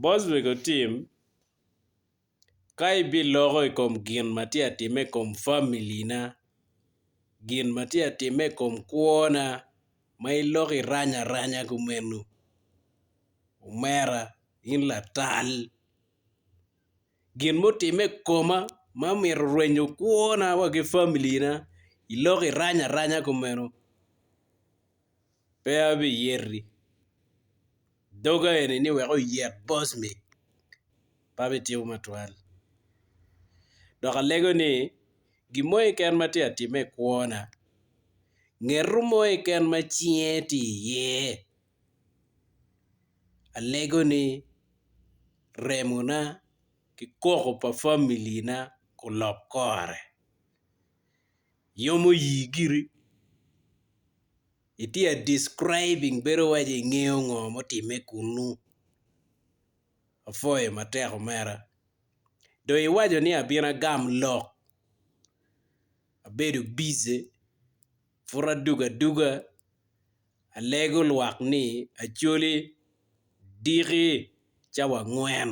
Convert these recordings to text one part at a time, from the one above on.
Bot mego tim, ka ibiloko i kom gin ma tye ka timme i kom familina, gin ma tye ka timme i kom kwona ma iloko irany aranya kumeno, omera in latal gin mutimme i koma ma omyero orwenyo kwona wa ki familina iloko irany aranya kumeno. Pe abiyeri doga eni ni wek oyek boss me pe abitimo matwal dok alego ni gin mo keken ma tye ka timme i kwona ngeto mo keken ma cinge tye iye alego ni remona ki koko pa familina olok kore. Iyomo yii giri. Itye a describing bedo waco ingeyo ngo mutime kunu. Apwoyo matek omera. Dong iwaco ni abin agam lok. Abedo busy pud adugo aduga alego lwak ni Acholi diki cawa angwen.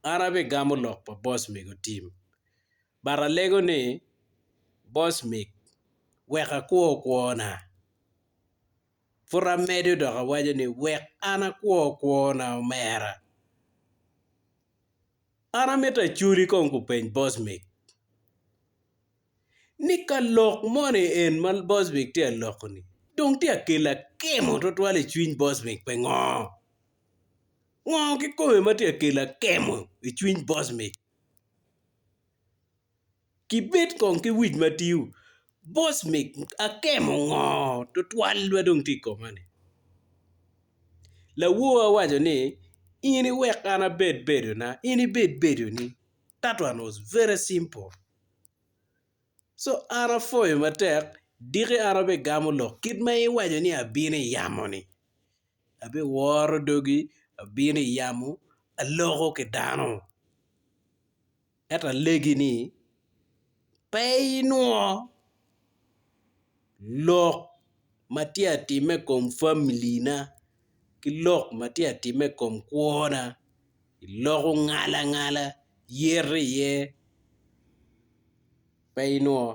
An abigamo lok pa boss mego team. But alego ni, Boss Mick, wek akwo kwona. Pud amedo dok awaco ni, Wek an akwo kwona, omera. An amito aculi kong kupeny Boss Mick ni ka lok moni en ma Boss Mick tye ka loko-ni dong tye ka kelo akemo twatwal i cwiny Boss Mick pingo? Ngo kikome ma tye ka kelo akemo i cwiny Boss Mick? Kibed kong ki wic ma tio, boss me akemo ngo tutwal ma dong tye i koma ni? Lawor owaco ni in iwek an abed bedo na in ibed bedo ni that one was very simple so an apwoyo matek diki an abigamu lok kit ma iwaco ni abino iyamo ni. Abiworo dogi, abino i yamo, aloko ki dano. Ento alegi ni, pe inwongo lok ma tye ka timme i kom familina ki lok ma tye ka timme i kom kwona, iloko ngalangala, iyero iye, pe inwongo.